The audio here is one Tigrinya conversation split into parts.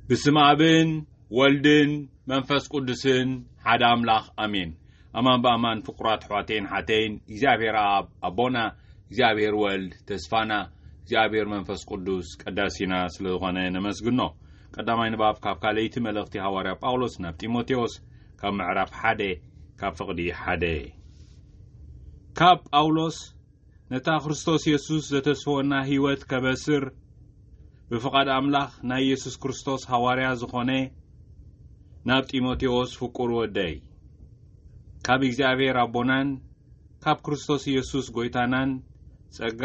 ብስም ኣብን ወልድን መንፈስ ቅዱስን ሓደ ኣምላኽ ኣሜን። ኣማን ብኣማን ፍቁራት ኣሕዋተይን ሓተይን እግዚኣብሔር ኣብ ኣቦና እግዚኣብሔር ወልድ ተስፋና እግዚኣብሔር መንፈስ ቅዱስ ቀዳሲና ስለ ዝኾነ ነመስግኖ። ቀዳማይ ንባብ ካብ ካልኣይቲ መልእኽቲ ሃዋርያ ጳውሎስ ናብ ጢሞቴዎስ ካብ ምዕራፍ ሓደ ካብ ፍቕዲ ሓደ ካብ ጳውሎስ ነታ ክርስቶስ የሱስ ዘተስፈወና ህይወት ከበስር ብፍቓድ ኣምላኽ ናይ የሱስ ክርስቶስ ሃዋርያ ዝኾነ ናብ ጢሞቴዎስ ፍቁር ወደይ ካብ እግዚኣብሔር ኣቦናን ካብ ክርስቶስ ኢየሱስ ጎይታናን ጸጋ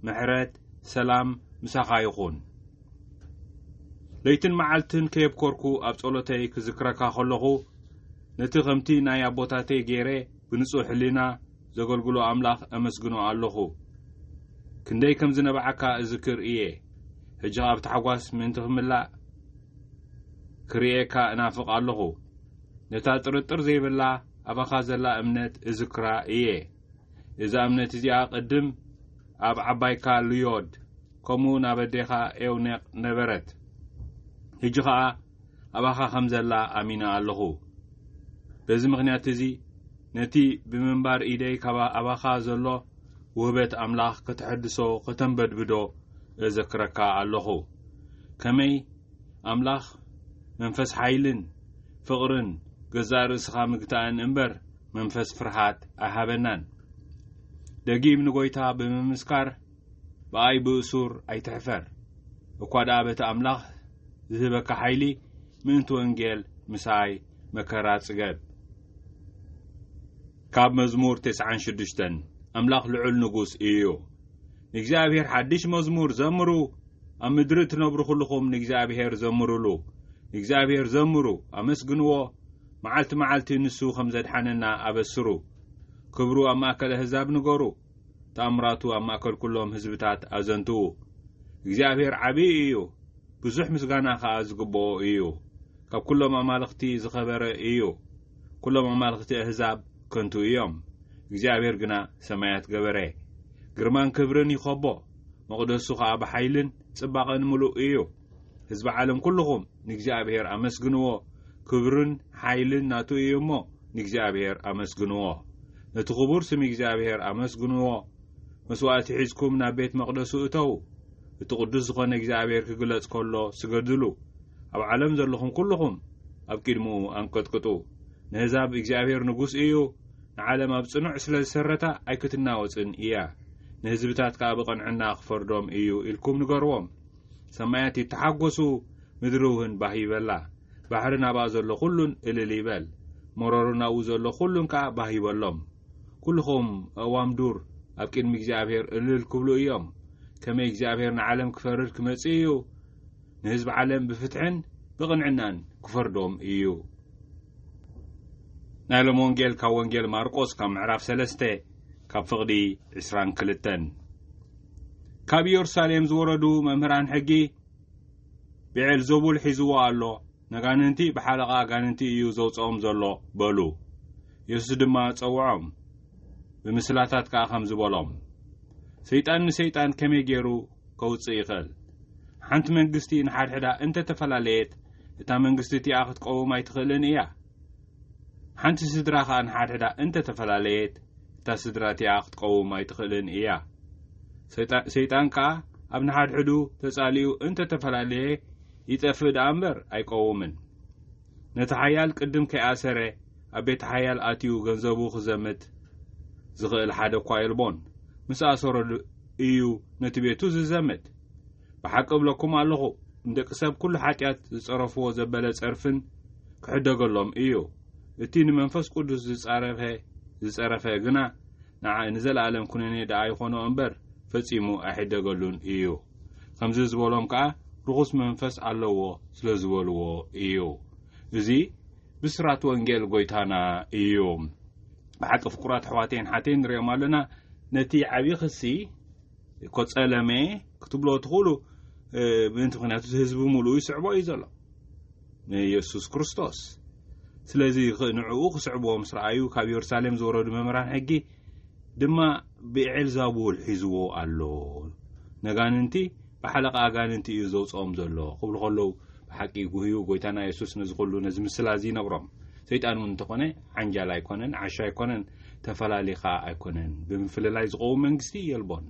ምሕረት ሰላም ምሳኻ ይኹን ለይትን መዓልትን ከየብኮርኩ ኣብ ጸሎተይ ክዝክረካ ከለኹ ነቲ ከምቲ ናይ ኣቦታተይ ገይረ ብንጹህ ሕሊና ዘገልግሎ ኣምላኽ እምስግኖ ኣሎኹ። ክንደይ ከም ዝነብዓካ እዝክር እየ። ሕጂ ኸኣ ብታሕጓስ ምእንቲ ኽምላእ ክርእየካ እናፍቕ ኣሎኹ። ነታ ጥርጥር ዘይብላ ኣባኻ ዘላ እምነት እዝክራ እየ። እዛ እምነት እዚኣ ቕድም ኣብ ዓባይካ ሉዮድ ከምኡውን ኣብ ኣዴኻ ኤውኔቅ ነበረት። ሕጂ ኸኣ ኣባኻ ኸም ዘላ ኣሚነ ኣሎኹ። በዚ ምኽንያት እዚ፣ ነቲ ብምንባር ኢደይ ካብ ኣባኻ ዘሎ ውህበት ኣምላኽ ከተሐድሶ ኸተንበድብዶ እዘክረካ ኣሎኹ። ከመይ ኣምላኽ መንፈስ ሓይልን ፍቕርን ገዛእ ርእስኻ ምግታእን እምበር መንፈስ ፍርሃት ኣይሃበናን። ደጊም ንጐይታ ብምምስካር፣ ብኣይ ብእሱር ኣይትሕፈር እኳ ደኣ በቲ ኣምላኽ ዝህበካ ሓይሊ ምእንቲ ወንጌል ምሳይ መከራ ጽገብ። ካብ መዝሙር ቴስዓን ሽዱሽተን ኣምላኽ ልዑል ንጉስ እዩ። ንእግዚኣብሔር ሓድሽ መዝሙር ዘምሩ፣ ኣብ ምድሪ እትነብሩ ዅልኹም ንእግዚኣብሔር ዘምሩሉ። ንእግዚኣብሔር ዘምሩ፣ ኣመስግንዎ፣ መዓልቲ መዓልቲ ንሱ ኸም ዘድሓነና ኣበስሩ። ክብሩ ኣብ ማእከል ኣህዛብ ንገሩ። ተኣምራቱ ኣብ ማእከል ኩሎም ህዝብታት ኣዘንትዉ። እግዚኣብሄር ዓብዪ እዩ፣ ብዙሕ ምስጋና ኸኣ ዝግብኦ እዩ። ካብ ኩሎም ኣማልኽቲ ዝኸበረ እዩ። ኩሎም ኣማልኽቲ ኣህዛብ ከንቱ እዮም፣ እግዚኣብሄር ግና ሰማያት ገበረ። ግርማን ክብርን ይኸቦ፣ መቕደሱ ኸኣ ብሓይልን ጽባቐን ምሉእ እዩ። ህዝቢ ዓለም ኩሉኹም ንእግዚኣብሔር ኣመስግንዎ ክብርን ሓይልን ናቱ እዩ እሞ ንእግዚኣብሔር ኣመስግንዎ ነቲ ክቡር ስም እግዚኣብሔር ኣመስግንዎ መስዋእቲ ሒዝኩም ናብ ቤት መቕደሱ እተዉ እቲ ቅዱስ ዝኾነ እግዚኣብሔር ክግለጽ ከሎ ስገድሉ ኣብ ዓለም ዘለኹም ኩሉኹም ኣብ ቂድምኡ ኣንቀጥቅጡ ንህዛብ እግዚኣብሔር ንጉስ እዩ ንዓለም ኣብ ጽኑዕ ስለ ዝሰረታ ኣይክትናወጽን እያ ንህዝብታት ከኣ ብቐንዕና ክፈርዶም እዩ ኢልኩም ንገርዎም ሰማያት ይተሓጐሱ፣ ምድሪውን ባህ ይበላ። ባሕሪ ናብኣ ዘሎ ዅሉን እልል ይበል፣ መሮሩ ናብኡ ዘሎ ዅሉን ከኣ ባህ ይበሎም። ኵልኹም ኣእዋም ዱር፣ ኣብ ቅድሚ እግዚኣብሄር እልል ክብሉ እዮም። ከመይ እግዚኣብሄር ንዓለም ክፈርድ ክመጽእ እዩ፣ ንህዝቢ ዓለም ብፍትሕን ብቕንዕናን ክፈርዶም እዩ። ናይ ሎሚ ወንጌል ካብ ወንጌል ማርቆስ ካብ ምዕራፍ ሰለስተ ካብ ፍቕዲ ዕስራን ክልተን። ካብ ኢየሩሳሌም ዝወረዱ መምህራን ሕጊ ብዔልዘቡል ሒዝዎ ኣሎ፣ ነጋንንቲ ብሓለቓ ኣጋንንቲ እዩ ዘውጽኦም ዘሎ በሉ። የሱስ ድማ ጸውዖም፣ ብምስላታት ከኣ ከምዚ በሎም፣ ሰይጣን ንሰይጣን ከመይ ገይሩ ከውጽእ ይኽእል? ሓንቲ መንግስቲ ንሓድሕዳ እንተ ተፈላለየት፣ እታ መንግስቲ እቲኣ ክትቀውም ኣይትኽእልን እያ። ሓንቲ ስድራ ኸኣ ንሓድሕዳ እንተ ተፈላለየት፣ እታ ስድራ እቲኣ ኽትቀውም ኣይትኽእልን እያ። ሰይጣ ሰይጣን ከኣ ኣብ ንሓድሕዱ ተጻሊኡ እንተ ተፈላለየ ይጠፍእ ደኣ እምበር ኣይቀውምን። ነቲ ሓያል ቅድም ከይኣሰረ ኣብ ቤተ ሓያል ኣትዩ ገንዘቡ ኽዘምት ዝኽእል ሓደ እኳ የልቦን። ምስ ኣሰሮ እዩ ነቲ ቤቱ ዝዘምት። ብሓቂ እብለኩም ኣሎኹ፣ ንደቂ ሰብ ኵሉ ሓጢኣት ዝጸረፍዎ ዘበለ ጸርፍን ክሕደገሎም እዩ፣ እቲ ንመንፈስ ቅዱስ ዝጻረፈ ዝጸረፈ ግና ንዓ ንዘለኣለም ኵነኔ ደኣ ይዀኖ እምበር፣ ፈጺሙ ኣይሕደገሉን እዩ። ከምዚ ዝበሎም ከኣ ርኹስ መንፈስ ኣለዎ ስለ ዝበልዎ እዩ። እዚ ብስራት ወንጌል ጐይታና እዩ። ብሓቂ ፍቁራት ኣሕዋተይን ሓተይን ንርእዮም ኣሎና ነቲ ዓቢ ክሲ፣ እኮ ጸለመ ክትብሎ ትኽእሉ ምእንቲ ምክንያቱ እቲ ህዝቢ ምሉኡ ይስዕቦ እዩ ዘሎ ንየሱስ ክርስቶስ ስለዚ ንዕኡ ክስዕብዎ ምስ ረኣዩ ካብ የሩሳሌም ዝወረዱ መምህራን ሕጊ ድማ ብኤልዛቡል ሒዝዎ ኣሎ ነጋንንቲ ብሓለቓ ኣጋንንቲ እዩ ዘውፅኦም ዘሎ ክብሉ ከለዉ ብሓቂ ጉህዩ ጎይታና የሱስ ነዚ ኩሉ ነዚ ምስላ እዚ ይነግሮም ሰይጣን እውን እንተኾነ ዓንጃል ኣይኮነን ዓሻ ኣይኮነን ተፈላሊ ከኣ ኣይኮነን ብምፍልላይ ዝቐውም መንግስቲ የልቦን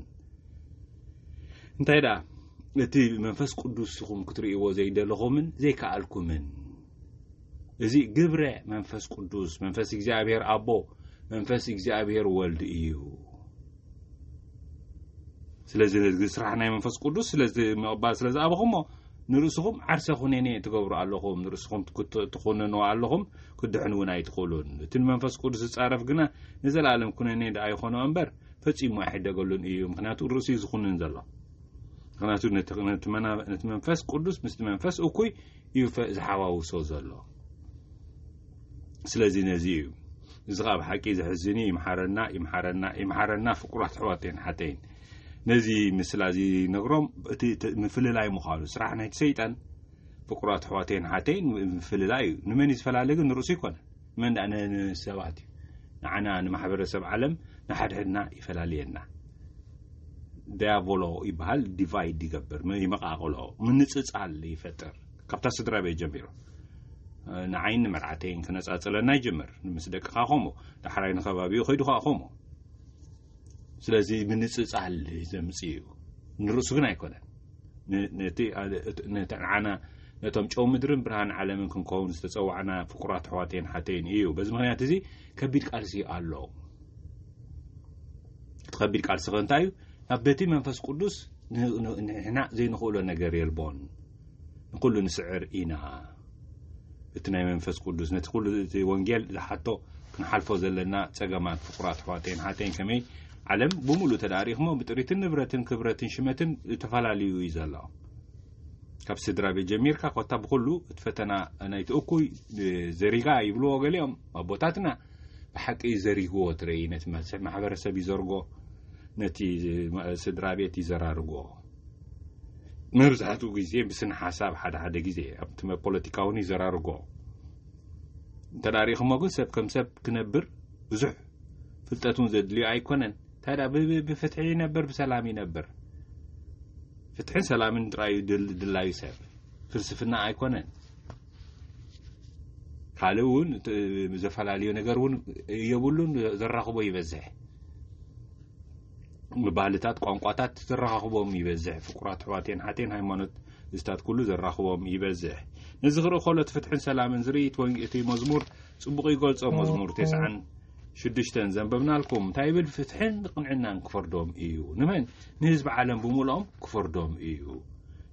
እንታይ ደኣ እቲ መንፈስ ቅዱስ ኢኹም ክትርእይዎ ዘይደለኹምን ዘይከኣልኩምን እዚ ግብረ መንፈስ ቅዱስ መንፈስ እግዚኣብሔር ኣቦ መንፈስ እግዚኣብሔር ወልድ እዩ ስለዚ ነዚ ስራሕ ናይ መንፈስ ቅዱስ ስለዚ ምቕባል ስለ ዝኣበኹሞ ንርእስኹም ዓርሰ ኩነኔ ትገብሩ ኣለኹም ንርእስኹም ትኹንኑ ኣለኹም ክድሕን እውን ኣይትኽእሉን እቲ ንመንፈስ ቅዱስ ዝጻረፍ ግና ንዘለኣለም ኩነኔ ደኣ ይኾኖ እምበር ፈጺሙ ኣይሕደገሉን እዩ ምክንያቱ ርእሱ እዩ ዝኹንን ዘሎ ምክንያቱ ነቲ መንፈስ ቅዱስ ምስቲ መንፈስ እኩይ እዩ ዝሓዋውሶ ዘሎ ስለዚ ነዚ እዩ እዚ ኸዓ ብሓቂ ዘሕዝን እዩ ይምሓረና ይምሓረና ይምሓረና ፍቁራት ኣሕዋተይን ሓተይን ነዚ ምስላ እዚ ነግሮም እቲ ምፍልላይ ምዃኑ ስራሕ ናይቲ ሰይጣን ፍቁራት ኣሕዋተይን ሓተይን ምፍልላይ እዩ ንመን እዩ ዝፈላለ ግን ንርእሱ ኣይኮነን መንዳእ ንሰባት እዩ ንዓና ንማሕበረሰብ ዓለም ንሓድሕድና ይፈላልየና ዳያቦሎ ይበሃል ዲቫይድ ይገብር ይመቃቅሎ ምንፅፃል ይፈጥር ካብታ ስድራ ቤት ጀሚሩ ንዓይን ንመርዓተይን ክነፃፅለና ይጅምር ምስ ደቅኻ ከምኡ ዳሕራይ ንከባቢኡ ከይዱ ከዓ ከምኡ ስለዚ ምንጽጻል ዘምፅ እዩ ንርእሱ ግን ኣይኮነን ነቲ ንዓና ነቶም ጨው ምድርን ብርሃን ዓለምን ክንከውን ዝተፀዋዕና ፍቁራት ኣሕዋተይን ሓተይን እዩ በዚ ምክንያት እዚ ከቢድ ቃልሲ ኣሎ እቲ ከቢድ ቃልሲ ከ እንታይ እዩ ናብ በቲ መንፈስ ቅዱስ ንሕና ዘይንኽእሎ ነገር የልቦን ንኹሉ ንስዕር ኢና እቲ ናይ መንፈስ ቅዱስ ነቲ ኩሉ እቲ ወንጌል ዝሓቶ ክንሓልፎ ዘለና ጸገማት ፍቁራት ኣሕዋተይን ሓተይን ከመይ ዓለም ብምሉእ ተዳሪኽሞ ብጥሪትን ንብረትን ክብረትን ሽመትን ዝተፈላለዩ እዩ ዘሎ ካብ ስድራ ቤት ጀሚርካ ኮታ ብኩሉ እቲ ፈተና ናይቲ እኩይ ዘሪጋ ይብልዎ ገሊኦም ኣቦታትና ብሓቂ ዘሪግዎ ትረኢ ነቲ ማሕበረሰብ ይዘርጎ ነቲ ስድራ ቤት ይዘራርግዎ መብዛሕትኡ ግዜ ብስነ ሓሳብ ሓደ ሓደ ግዜ ኣብቲ ፖለቲካ እውን ይዘራርጎ እንተ ሪኢኹሞ ግን ሰብ ከም ሰብ ክነብር ብዙሕ ፍልጠት እውን ዘድልዮ ኣይኮነን እንታይ ዳ ብፍትሒ ይነብር ብሰላም ይነብር ፍትሕን ሰላምን ጥራዩ ድላዩ ሰብ ፍልስፍና ኣይኮነን ካልእ እውን ዘፈላለዩ ነገር እውን የብሉን ዘራኽቦ ይበዝሕ ብባህልታት ቋንቋታት ዘራኻኽቦም ይበዝሕ ፍቁራት ኣሕዋቴን ሓቴን ሃይማኖት እዝታት ኩሉ ዘራኽቦም ይበዝሕ ነዚ ክርኢ ከሎ እቲ ፍትሕን ሰላምን ዝርኢ እቲ መዝሙር ጽቡቕ ይገልጾ መዝሙር ቴስዓን ሽዱሽተን ዘንበብናልኩም እንታይ ይብል ፍትሕን ንቕንዕናን ክፈርዶም እዩ ንመን ንህዝቢ ዓለም ብምልኦም ክፈርዶም እዩ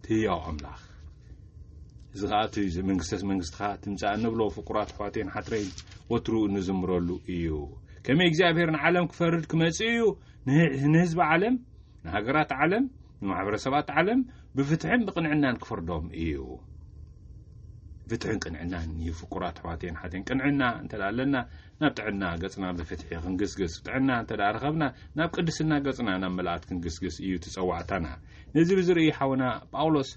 ትህያው ኣምላኽ እዚ ከዓ እቲ መንግስተ መንግስትኻ ትምፃእ እንብሎ ፍቁራት ኣሕዋቴን ሓትረይን ወትሩ እንዝምረሉ እዩ ከመይ እግዚኣብሔር ንዓለም ክፈርድ ክመጽእ እዩ ንህዝቢ ዓለም ንሃገራት ዓለም ንማሕበረሰባት ዓለም ብፍትሕን ብቕንዕናን ክፈርዶም እዩ ፍትሕን ቅንዕናን እዩ ፍቁራት ኣሕዋትን ሓትን ቅንዕና እንተ ኣለና ናብ ጥዕና ገጽና ብፍትሒ ክንግስግስ ጥዕና እንተ ረኸብና ናብ ቅድስና ገጽና ናብ መላእት ክንግስግስ እዩ ትጸዋዕታና ነዚ ብዝርኢ ሓውና ጳውሎስ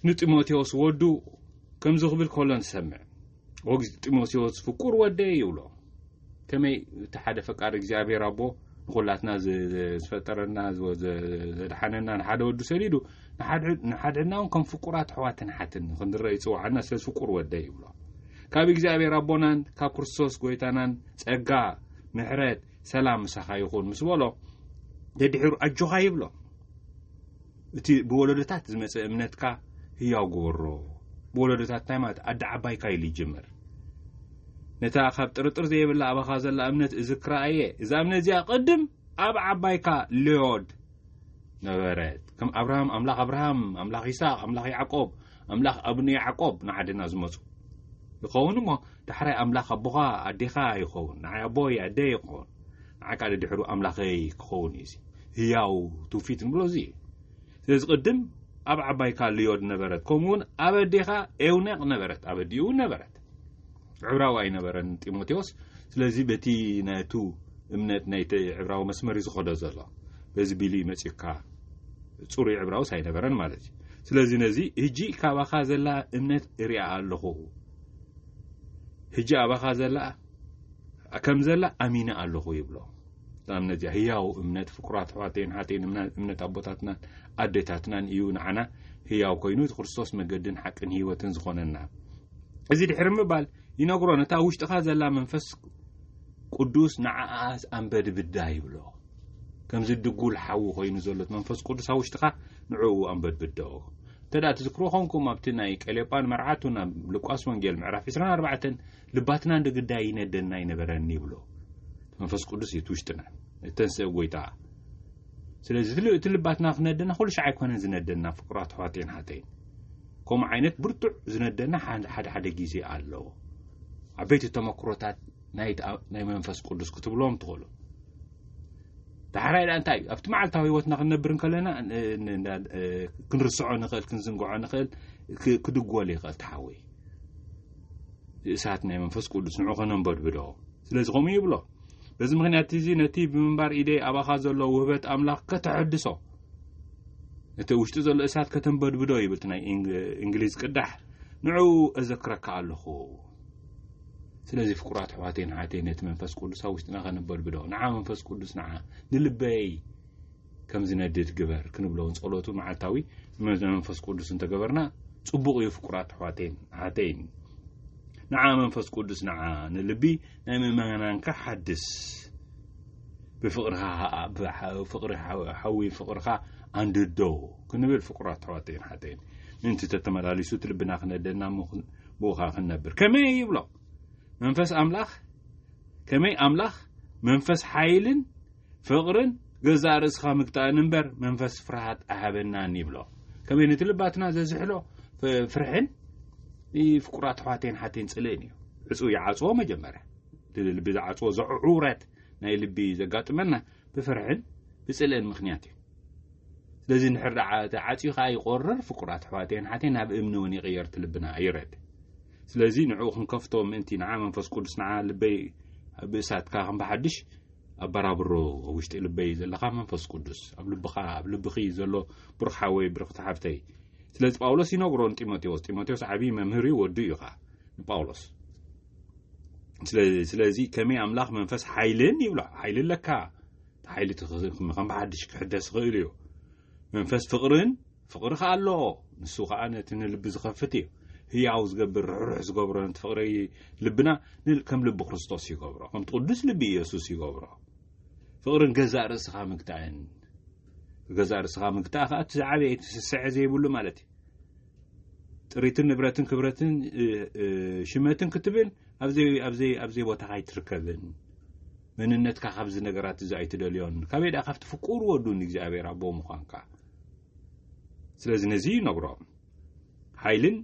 ንጢሞቴዎስ ወዱ ከምዚ ክብል ከሎ ንሰምዕ ወግዝ ጢሞቴዎስ ፍቁር ወደይ ይብሎ ከመይ እቲ ሓደ ፈቃድ እግዚኣብሔር ኣቦ ንኩላትና ዝፈጠረና ዘድሓነና ንሓደ ወዱ ሰዲዱ ንሓድሕድና እውን ከም ፍቁራት ኣሕዋትን ሓትን ክንረአ ይፅዋዓና ስለዚ ፍቁር ወደይ ይብሎ ካብ እግዚኣብሔር ኣቦናን ካብ ክርስቶስ ጎይታናን ፀጋ ምሕረት ሰላም ምሳኻ ይኹን ምስ በሎ ደድሕሩ ኣጆኻ ይብሎ እቲ ብወለዶታት ዝመጸ እምነትካ ህያው ግበሮ። ብወለዶታት እንታይ ማለት ኣደ ዓባይካ ኢሉ ይጅምር። ነታ ካብ ጥርጥር ዘየብላ ኣባኻ ዘላ እምነት እዝክራ እየ። እዛ እምነት እዚኣ ቅድም ኣብ ዓባይካ ሌዮድ ነበረት። ከም ኣብርሃም ኣምላኽ ኣብርሃም፣ ኣምላኽ ይስሃቅ፣ ኣምላኽ ያዕቆብ፣ ኣምላኽ ኣብነ ያዕቆብ ንዓድና ዝመጹ ይኸውን እሞ ዳሕራይ ኣምላኽ ኣቦኻ ኣዴኻ ይኸውን ንዓይ ኣቦይ ኣደይ ይኸውን ንዓካ ደድሕሩ ኣምላኸይ ክኸውን እዩ እዚ ህያው ትውፊት ንብሎ እዚ እዩ ስለዚ ቅድም ኣብ ዓባይካ ልዮድ ነበረት ከምኡ እውን ኣብ ኣዴኻ ኤውነቅ ነበረት ኣብ ኣዲኡ እውን ነበረት ዕብራዊ ኣይነበረን ጢሞቴዎስ ስለዚ በቲ ናቱ እምነት ናይቲ ዕብራዊ መስመር እዩ ዝኸዶ ዘሎ በዚ ቢሉ እዩ መጺኡካ ጽሩይ ዕብራውስ ኣይነበረን ማለት እዩ ስለዚ ነዚ ህጂ ካባኻ ዘላ እምነት እሪኣ ኣለኹ ህጂ ኣባኻ ዘላ ከም ዘላ ኣሚነ ኣለኹ ይብሎ ንኣብነት እዚኣ ህያው እምነት ፍቁራት ኣሕዋተይን ሓተይን እምነት ኣቦታትናን ኣዴታትናን እዩ ንዓና ህያው ኮይኑ እቲ ክርስቶስ መገድን ሓቅን ህይወትን ዝኾነና እዚ ድሕሪ ምባል ይነግሮ ነታ ውሽጥኻ ዘላ መንፈስ ቅዱስ ንዓኣስ ኣንበድብዳ ይብሎ ከምዚ ድጉል ሓዊ ኮይኑ ዘሎት መንፈስ ቅዱስ ኣብ ውሽጥኻ ንዕኡ ኣንበድብዶ እንተ ደኣ ትዝክሮ ኾንኩም ኣብቲ ናይ ቀሌጳን መርዓቱ ናብ ሉቃስ ወንጌል ምዕራፍ 24 ልባትና እንደ ግዳይ ይነደና ይነበረኒ ይብሎ መንፈስ ቅዱስ እዩ እቲ ውሽጥና እተንስእ ጎይታ ስለዚ እቲ ልባትና ክነደና ኩሉ ሻዕ ኣይኮነን ዝነደና ፍቅራት ኣሕዋተይን ሓተይን ከምኡ ዓይነት ብርቱዕ ዝነደና ሓደ ሓደ ግዜ ኣለዎ ዓበይቲ ተመክሮታት ናይ መንፈስ ቅዱስ ክትብሎም ትኽእሉ ዳሕራይ ዳ እንታይ እዩ ኣብቲ መዓልታዊ ህይወትና ክንነብር ከለና ክንርስዖ ንኽእል ክንዝንግዖ ንኽእል ክድጎል ይኽእል ተሓወይ እሳት ናይ መንፈስ ቅዱስ ንዑ ከነንበድብዶ ስለዚ ከምኡ ይብሎ በዚ ምክንያት እዚ ነቲ ብምንባር ኢደይ ኣባኻ ዘሎ ውህበት ኣምላኽ ከተሐድሶ እቲ ውሽጢ ዘሎ እሳት ከተንበድብዶ ይብል እቲ ናይ እንግሊዝ ቅዳሕ ንዕኡ እዘክረካ ኣለኹ ስለዚ ፍቁራት ኣሕዋተይን ኣሓተይን ነቲ መንፈስ ቅዱስ ኣብ ውሽጥና ከነበድብዶ ንዓ መንፈስ ቅዱስ ንዓ ንልበይ ከም ዝነድድ ግበር ክንብለውን ጸሎቱ መዓልታዊ መንፈስ ቅዱስ እንተገበርና ጽቡቕ እዩ ፍቁራት ኣሕዋተይን ኣሓተይን ንዓ መንፈስ ቅዱስ ንዓ ንልቢ ናይ ምእመናንካ ሓድስ ብፍቕርኻ ፍቕሪ ሓዊ ፍቕርኻ ኣንድዶ ክንብል ፍቕራት ኣሕዋተይን ሓተይን ምእንቲ ተተመላሊሱ እቲ ልብና ክነደና ብኡኻ ክንነብር ከመይ ይብሎ መንፈስ ኣምላኽ ከመይ ኣምላኽ መንፈስ ሓይልን ፍቕርን ገዛእ ርእስኻ ምግጣእን እምበር መንፈስ ፍርሃት ኣሃበናን ይብሎ ከመይ ነቲ ልባትና ዘዝሕሎ ፍርሕን ፍቁራት ኣሕዋተይን ሓተይን ፅልእን እዩ ዕፁ ይዓፅዎ መጀመርያ ብልቢ ዝዓጽዎ ዘዕዑውራት ናይ ልቢ ዘጋጥመና ብፍርሕን ብጽልእን ምኽንያት እዩ። ስለዚ እንድሕር ደኣ እቲ ዓጽዩ ከኣ ይቆርር ፍቁራት ኣሕዋተይን ሓተይን ናብ እምኒ እውን ይቕየር እቲ ልብና ይረድ ስለዚ ንዕኡ ክንከፍቶ ምእንቲ ንዓ መንፈስ ቅዱስ ንዓ ልበይ ኣብ እሳትካ ከም ብሓድሽ ኣበራብሮ ኣብ ውሽጢ ልበይ ዘለካ መንፈስ ቅዱስ ኣብ ልብኻ ኣብ ልብኺ ዘሎ ብሩኽ ሓወይ ብርኽቲ ሓፍተይ ስለዚ ጳውሎስ ይነግሮ ንጢሞቴዎስ ጢሞቴዎስ ዓብዪ መምህር እዩ ወዱ እዩ ኸዓ ንጳውሎስ ስለዚ ከመይ ኣምላኽ መንፈስ ሓይልን ይብላ ሓይሊ ኣለካ ሓይሊ ከም ብሓድሽ ክሕደስ ይኽእል እዩ መንፈስ ፍቕርን ፍቕሪ ከዓ ኣሎ ንሱ ከዓ ነቲ ንልቢ ዝኸፍት እዩ ህያው ዝገብር ርሕሩሕ ዝገብሮ ነቲ ፍቕሪ ልብና ከም ልቢ ክርስቶስ ይገብሮ ከምቲ ቅዱስ ልቢ ኢየሱስ ይገብሮ ፍቕርን ገዛእ ርእስኻ ምግታእን ገዛእ ርእስኻ ምግታእ ከዓ እቲ ዝዓበየ እቲ ስስዐ ዘይብሉ ማለት እዩ ጥሪትን ንብረትን ክብረትን ሽመትን ክትብል ኣብዘይ ቦታኻ ኣይትርከብን መንነትካ ካብዚ ነገራት እዚ ኣይትደልዮን ካበይ ድኣ ካብቲ ፍቁር ወዱ ንእግዚኣብሔር ኣቦ ምዃንካ ስለዚ ነዚ ይነግሮ ሓይልን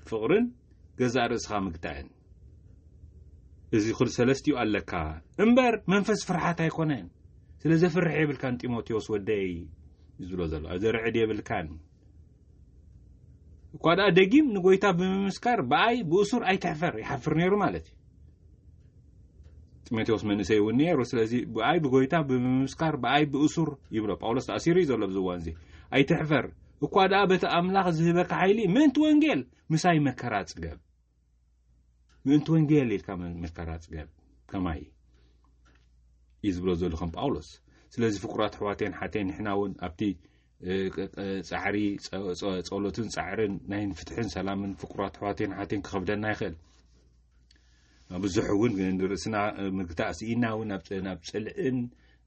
ፍቕርን ገዛእ ርእስኻ ምግታእን እዚ ክል ሰለስትኡ ኣለካ እምበር መንፈስ ፍርሓት ኣይኮነን ስለ ዘፍርሕ የብልካን ጢሞቴዎስ ወደይ ዝብሎ ዘሎ ኣዘርዕድ የብልካን እኳ ደኣ ደጊም ንጎይታ ብምምስካር ብኣይ ብእሱር ኣይትሕፈር ይሓፍር ነይሩ ማለት እዩ ጢሞቴዎስ መንእሰይ እውን ነይሩ ስለዚ ብኣይ ብጎይታ ብምምስካር ብኣይ ብእሱር ይብሎ ጳውሎስ ተኣሲሩ እዩ ዘሎ ኣብዚ እዋን እዚ ኣይትሕፈር እኳ ደኣ በቲ ኣምላኽ ዝህበካ ሓይሊ ምእንቲ ወንጌል ምሳይ መከራ ጽገብ ምእንቲ ወንጌል ኢልካ መከራ ጽገብ ከማይ እዩ ዝብሎ ዘሎ ከም ጳውሎስ ስለዚ ፍቁራት ኣሕዋቴን ሓቴን ንሕና እውን ኣብቲ ፃዕሪ ፀሎትን ፃዕርን ናይ ፍትሕን ሰላምን ፍቁራት ኣሕዋቴን ሓቴን ክኸብደና ይኽእል ብዙሕ እውን ንርእስና ምግታእ ስኢና እውን ናብ ፅልእን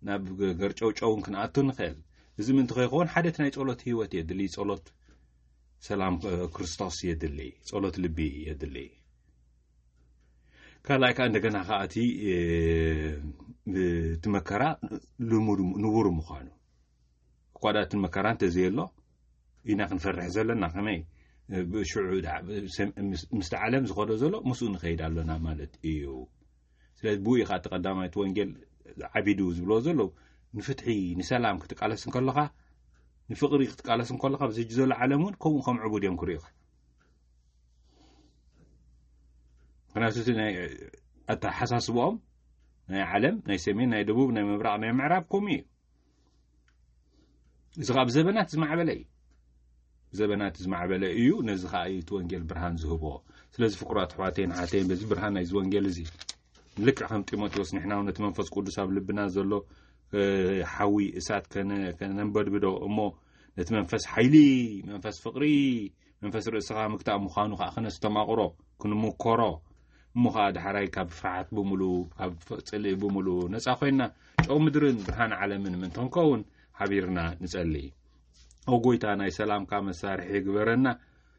ናብ ገርጨውጨውን ክንኣቱ ንኽእል እዚ ምንቲ ከይኸውን ሓደት ናይ ፀሎት ህይወት የድሊ ፀሎት ሰላም ክርስቶስ የድሊ ፀሎት ልቢ የድሊ ካልኣይ ከዓ እንደገና ከዓ እቲ እቲ መከራ ልሙድ ንቡር ምዃኑ ቋዳትን መከራ እንተዘየሎ ኢና ክንፈርሕ ዘለና ከመይ ሽዑ ምስቲ ዓለም ዝኸዶ ዘሎ ምስኡ ንኸይድ ኣሎና ማለት እዩ ስለዚ ብኡ ኢኻ እቲ ቀዳማይቲ ወንጌል ዓቢዱ ዝብልዎ ዘሎ ንፍትሒ ንሰላም ክትቃለስ እንከለኻ ንፍቕሪ ክትቃለስ እንከለኻ ብዝሕጂ ዘሎ ዓለም እውን ከምኡ ከም ዕቡድ እዮም ክርኢኻ ምክንያቱ እቲ ናይ ኣተሓሳስብኦም ናይ ዓለም ናይ ሰሜን ናይ ደቡብ ናይ ምብራቕ ናይ ምዕራብ ከምኡ እዩ እዚ ኸዓ ብዘበናት ዝማዕበለ እዩ ዘበናት ዝማዕበለ እዩ ነዚ ከዓ እዩ እቲ ወንጌል ብርሃን ዝህቦ ስለዚ ፍቅራት ኣሕዋተይን ሓተይን በዚ ብርሃን ናይዚ ወንጌል እዚ ልክዕ ከም ጢሞቴዎስ ንሕና ውን ነቲ መንፈስ ቅዱስ ኣብ ልብና ዘሎ ሓዊ እሳት ከነንበድብዶ እሞ ነቲ መንፈስ ሓይሊ መንፈስ ፍቅሪ መንፈስ ርእስኻ ምግታእ ምዃኑ ኸኣ ክነስተማቕሮ ክንምኮሮ እሞ ኸኣ ዳሕራይ ካብ ፍርሓት ብምሉ ካብ ጽልኢ ብምሉ ነጻ ኮይንና ጨው ምድርን ብርሃን ዓለምን ምእንቲ ክንከውን ሓቢርና ንጸሊ ኦ ጎይታ ናይ ሰላምካ መሳርሒ ግበረና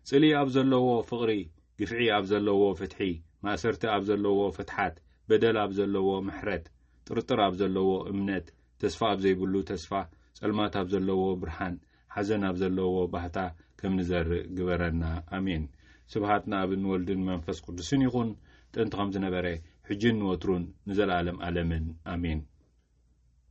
ጽልኢ ኣብ ዘለዎ ፍቕሪ ግፍዒ ኣብ ዘለዎ ፍትሒ ማእሰርቲ ኣብ ዘለዎ ፍትሓት በደል ኣብ ዘለዎ ምሕረት ጥርጥር ኣብ ዘለዎ እምነት ተስፋ ኣብ ዘይብሉ ተስፋ ጸልማት ኣብ ዘለዎ ብርሃን ሓዘን ኣብ ዘለዎ ባህታ ከም ንዘርእ ግበረና ኣሜን። ስብሃት ንኣብን ወልድን መንፈስ ቅዱስን ይኹን ጥንቲ ከም ዝነበረ ሕጂን ንወትሩን ንዘለኣለም ኣለምን ኣሜን።